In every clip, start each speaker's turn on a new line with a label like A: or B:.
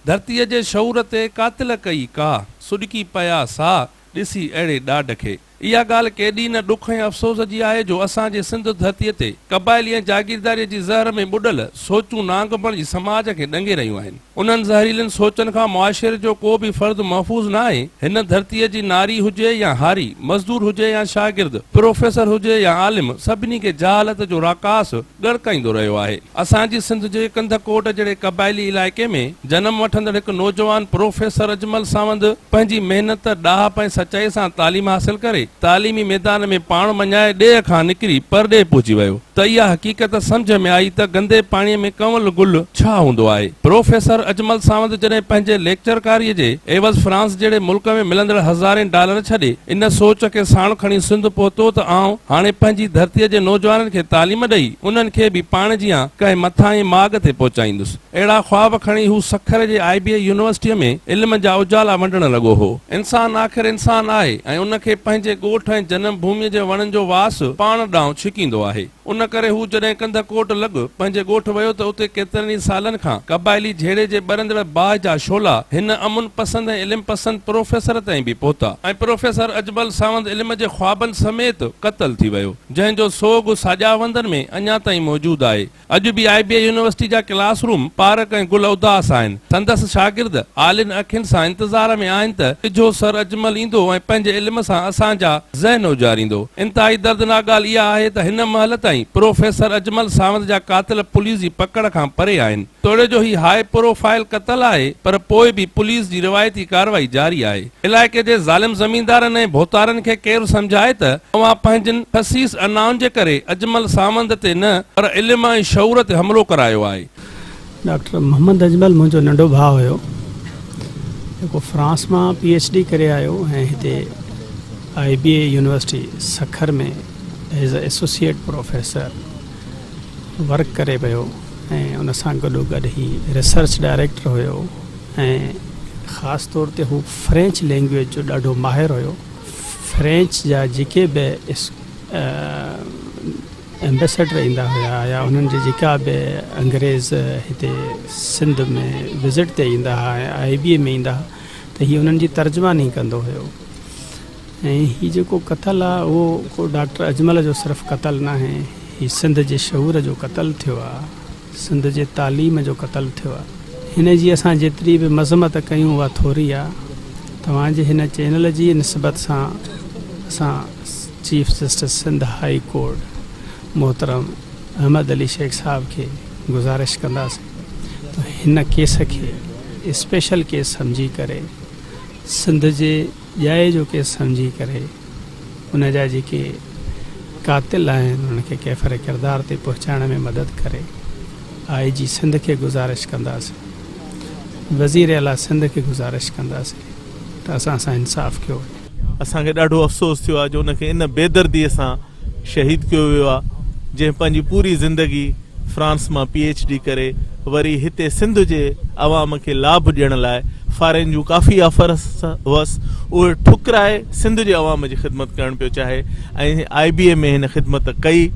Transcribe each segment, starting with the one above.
A: ڌرتيء جي شعور تي قاتل ڪئي ڪا، سڏڪي پيا سا، ڏسي اهڙي ڏاڍ کي. اها ڳالهه ڪيڏي نه ڏک ۽ افسوس جي آهي جو اسان جي سنڌ ڌرتيء تي قبائلي ۽ جاگيرداريء جي زهر ۾ ٻڏل سوچون نانگپڻ جي سماج کي ڏنگي رهيون آهن. انهن زهريلن سوچن کان معاشري جو ڪو به فرد محفوظ نه آهي. هن ڌرتيء جي ناري هجي يا هاري، مزدور هجي يا شاگرد، پروفيسر هجي يا عالم، سڀني کي جهالت جو راڪاس ڳڙڪائيندو رهيو آهي. اسان جي سنڌ جي ڪنڌ ڪوٽ جهڙي قبائلي علائقي ۾ جنم وٺندڙ هڪ نوجوان پروفيسر اجمل ساوند پنهنجي محنت، ڏاهپ ۽ سچائي سان تعليم حاصل ڪري، تعليمي ميدان ۾ پاڻ مڃائي ڏيهه کان نڪري پرڏيهه پهچي ويو. ته اها حقيقت سمجهه ۾ آئي ته گندي پاڻي ۾ ڪنول گل ڇا هوندو آهي. پروفيسر اجمل ساوند جڏهن پنهنجي ليڪچرڪاريء جي عيوض فرانس جهڙي ملڪ ۾ ملندڙ هزارين ڊالر ڇڏي ان سوچ کي ساڻ کڻي سنڌ پهتو ته آئون هاڻي پنهنجي ڌرتيء جي نوجوانن کي تعليم ڏئي انهن کي به پاڻ جيان ڪنهن مٿاهين ماڳ تي پهچائيندس. اهڙا خواب کڻي هو سکر جي آء بي اي يونيورسٽيء ۾ علم جا اجالا ونڊڻ لڳو هو. انسان آخر انسان آهي ۽ ان کي پنهنجي ڳوٺ ۽ جنم ڀوميء جي وڻن جو واس پاڻ ڏانهن ڇڪيندو آهي. ان ڪري هو جڏهن ڪنڌ ڪوٽ لڳ پنهنجي ڳوٺ ويو ته اتي ڪيترن ئي سالن کان قبائلي جهيڙي جي ٻرندڙ باهه جا شعلا هن امن پسند ۽ علم پسند پروفيسر تائين به پهتا ۽ پروفيسر اجمل ساوند علم جي خوابن سميت قتل ٿي ويو جنهن جو سوڳ ساڄاهه وندن ۾ اڃا تائين موجود آهي. اڄ به آء بي اي يونيورسٽي جا ڪلاس روم، پارڪ ۽ گل اداس آهن. سندس شاگرد آلين اکين سان انتظار ۾ آهن ته ڪجهو سر اجمل ايندو ۽ پنهنجي علم سان اسان جا ذهن اجاريندو. انتهائي دردناڪ ڳالهه اها آهي ته هن مهل تائين پروفيسر اجمل ساوند جا قاتل پوليس جي پڪڙ کان پري آهن. توڙي جو هي هاء پرو فائل قتل آهي پر پوء به پوليس جي روايتي ڪارروائي جاري آهي. علائقي جي ظالم زميندارن ۽ ڀوتارن کي ڪير سمجهائي ته اوهان پنهنجن خسيس انائن جي ڪري اجمل ساوند تي نه پر علم ۽ شعور تي حملو ڪرايو آهي. ڊاڪٽر
B: محمد اجمل منهنجو ننڍو ڀاء هيو جيڪو فرانس مان پي ايڇ ڊي ڪري آيو ۽ هتي I B A university Sukkur ۾ as a associate professor work ڪري پيو ۽ ان سان گڏوگڏ هي ريسرچ ڊائريڪٽر هيو ۽ خاص طور تي هو فرينچ لينگويج جو ڏاڍو ماهر هيو فرينچ جا جيڪي به ايمبيسڊر ايندا هيا يا انهن جي جيڪا به انگريز هتي سنڌ ۾ وزٽ تي ايندا هيا ۽ آئي بي اي ۾ ايندا هيا ته هي انهن جي ترجماني ڪندو هيو ۽ هي جيڪو قتل آ اهو ڪو ڊاڪٽر اجمل جو صرف قتل ناهي هي سنڌ جي شعور جو قتل ٿيو آ سنڌ جي تعليم جو قتل ٿيو آ هن جي اسان جيتري به مذمت ڪيون اها ٿوري آ توهان جي هن چينل جي نسبت سان اسان chief justice Sindh high court محترم احمد علي شيخ صاحب کي گذارش ڪنداسين ته هن ڪيس کي اسپيشل ڪيس سمجهي ڪري سنڌ جي ڄائي جو ڪيس سمجهي ڪري ان جا جيڪي قاتل آهن انهن کي ڪيفر ڪردار تي پهچائڻ ۾ مدد ڪري آء جي سنڌ کي گذارش ڪنداسين وزير اعليٰ سنڌ کي گذارش ڪنداسين ته اسان سان انصاف ڪيو وڃي. اسان کي ڏاڍو
C: افسوس ٿيو آهي جو ان کي ان بيدردي سان شهيد ڪيو ويو آهي جنهن پنهنجي پوري زندگي فرانس مان پي ايڇ ڊي ڪري وري هتي سنڌ جي عوام کي لاڀ ڏيڻ لاء فارين جون ڪافي آفرس هئس اهي ٺڪرائي سنڌ جي عوام جي خدمت ڪرڻ پيو چاهي ۽ آء بي اي ۾ هن خدمت ڪئي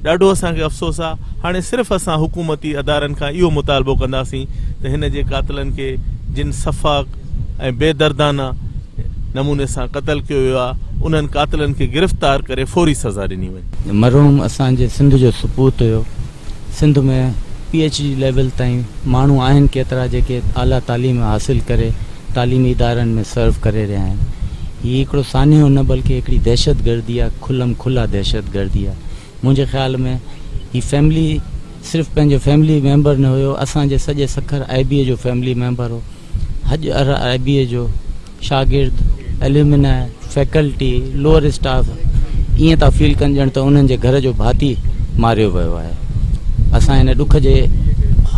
C: ڏاڍو اسان کي افسوس آهي هاڻي صرف اسان حڪومتي ادارن کان اهو مطالبو ڪنداسين ته هن جي قاتلن کي جن سفاڪ ۽ بي دردانه نموني سان قتل ڪيو ويو آهي انهن قاتلن کي گرفتار ڪري فوري سزا ڏني وڃي. مرحوم اسان جي
D: سنڌ جو سپوت هيو Sindh ۾ P H D level تائين ماڻهو آهن ڪيترا جيڪي اعليٰ تعليم حاصل ڪري تعليمي ادارن ۾ سرو ڪري رهيا آهن هي هڪڙو سانحو نه بلڪه هڪڙي دهشت گردي آهي کلم کلا دهشت گردي آهي منهنجي خيال ۾ هي فيملي صرف پنهنجو فيملي ميمبر نه هيو اسان جي سڄي سکر آئي بي اي جو فيملي ميمبر هو. حج ارايبيء جو شاگرد، اليومناء، فئڪلٽي، لوئر اسٽاف ائين ٿا فيل ڪن ڄڻ ته انهن جي گهر جو ڀاتي ماريو ويو آهي. اسان ان ڏک جي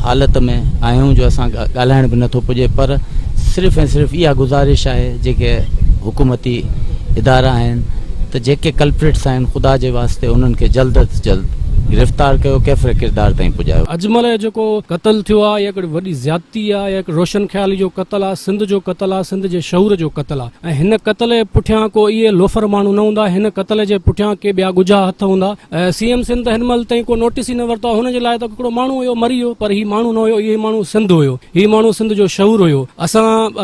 D: حالت ۾ آهيون جو اسان کان ڳالهائڻ به نٿو پڄي پر صرف ۽ صرف اها گذارش آهي جيڪي حڪومتي ادارا آهن ته جيڪي ڪلپريٽس آهن خدا جي واسطي انهن کي جلد از جلد گرفتار ڪيو ڪيفر ڪردار تائين پڄايو. اجمل جو جيڪو
E: قتل ٿيو آهي اها هڪڙي وڏي زيادتي آ اهي روشن خيالي جو قتل آ سنڌ جو قتل آ سنڌ جي شعور جو قتل آ ۽ هن قتل جي پٺيان ڪو اهي لوفر ماڻهو نه هوندا هن قتل جي پٺيان ڪي ٻيا ڳجها هٿ هوندا سي ايم سنڌ هن مهل تائين ڪو نوٽس ئي نه ورتو آ هن جي لاء ته هڪڙو ماڻهو هيو مري ويو پر هي ماڻهو نه هيو هي ماڻهو سنڌ هيو هي ماڻهو سنڌ جو شعور هيو اسان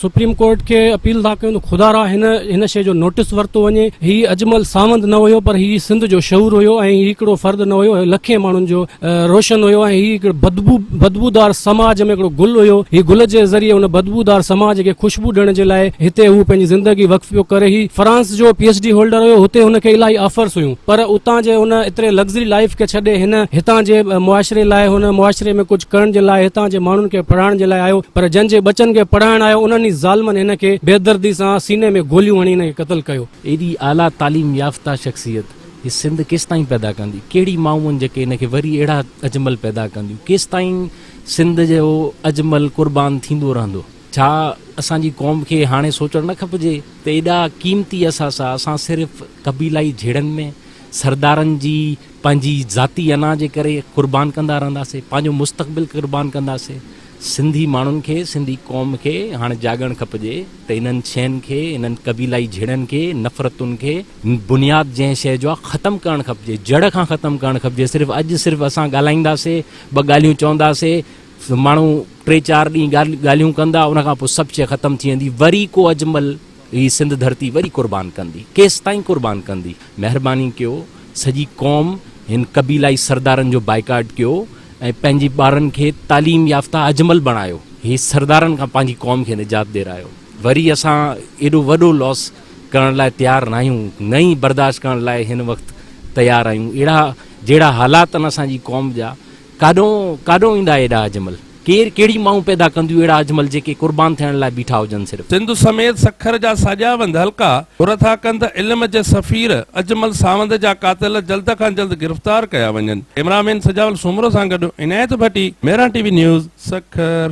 E: سپريم ڪورٽ کي اپيل ٿا ڪيون ته خدا را هن هن شيء جو نوٽس ورتو وڃي. هي اجمل ساوند نه هيو پر هي سنڌ جو شعور هيو ۽ هي هڪڙو فرد نه هيو، هي لکين ماڻهن جو روشن هيو ۽ هي هڪڙي بدبو بدبودار سماج ۾ هڪڙو گل هيو. هي گل جي ذريعي ان بدبودار سماج کي خوشبو ڏيڻ جي لاء هتي هو پنهنجي زندگي وقف پيو ڪري. هي فرانس جو پي ايڇ ڊي هولڊر هيو، هتي هن کي الاهي آفرس هيون. پر اتان جي ان ايتري لگزري لائيف کي ڇڏي هن هتان جي معاشري لاء هن معاشري ۾ ڪجهه ڪرڻ جي لاء هتان جي ماڻهن کي پڙهائڻ جي لاء آيو پر جن جي ٻچن کي پڙهائڻ آيو انهن ئي ظالمن هن کي بيدردي سان سيني ۾ گوليون هڻي هن کي قتل ڪيو. ايڏي اعليٰ تعليم
F: يافته شخصيت هي سنڌ ڪيستائين پيدا ڪندي؟ ڪهڙي مائون جيڪي هن کي وري اهڙا اجمل پيدا ڪنديون؟ ڪيستائين سنڌ جو اجمل قربان ٿيندو رهندو؟ ڇا اسان جي قوم کي هاڻي سوچڻ نه کپجي ته ايڏا قيمتي اثاثا اسان صرف قبيلائي جهيڙن ۾ سردارن جي پنهنجي ذاتي انا جي ڪري قربان ڪندا رهنداسين، پنهنجو مستقبل قربان ڪنداسين. سنڌي ماڻهن کي، سنڌي قوم کي هاڻي جاڳڻ کپجي ته انهن شين کي، انهن قبيلائي جهيڙن کي، نفرتن کي بنياد جنهن شيء جو آ ختم ڪرڻ کپجي، جڙ کان ختم ڪرڻ کپجي. صرف اڄ صرف اسان ڳالهائينداسين، ٻه ڳالهيون چونداسين، ماڻهو ٽي چار ڏينهن ڳالهيون ڪندا ان کان پوء سڀ شيء ختم ٿي ويندي وري ڪو اجمل هي سنڌ ڌرتي وري قربان ڪندي ڪيستائين قربان ڪندي مهرباني ڪيو سڄي قوم هن قبيلائي سردارن جو بائيڪاٽ ڪيو ۽ پنهنجي ٻارن کي تعليم يافته اجمل بڻايو هي سردارن کان پنهنجي قوم کي نجات ڏيرايو وري اسان ايڏو وڏو لوس ڪرڻ لاء تيار ناهيون نه ئي برداشت ڪرڻ لاء هن وقت تيار آهيون اهڙا جهڙا حالات آهن اسان جي قوم جا ڪاڏهون ڪاڏهون ايندا ايڏا اجمل. ڪير ڪهڙي مائون پيدا ڪنديون اهڙا اجمل جيڪي قربان ٿيڻ لاء بيٺا هجن صرف. سنڌ سميت سکر
A: جا ساڄا وند حلقا گهر ٿا ڪن ته علم جي سفير اجمل ساوند جا قاتل جلد کان جلد گرفتار ڪيا وڃن ڪئميرا مين سجاول سومرو سان گڏ Inayat Bhatti Meeran T V news Sukkur.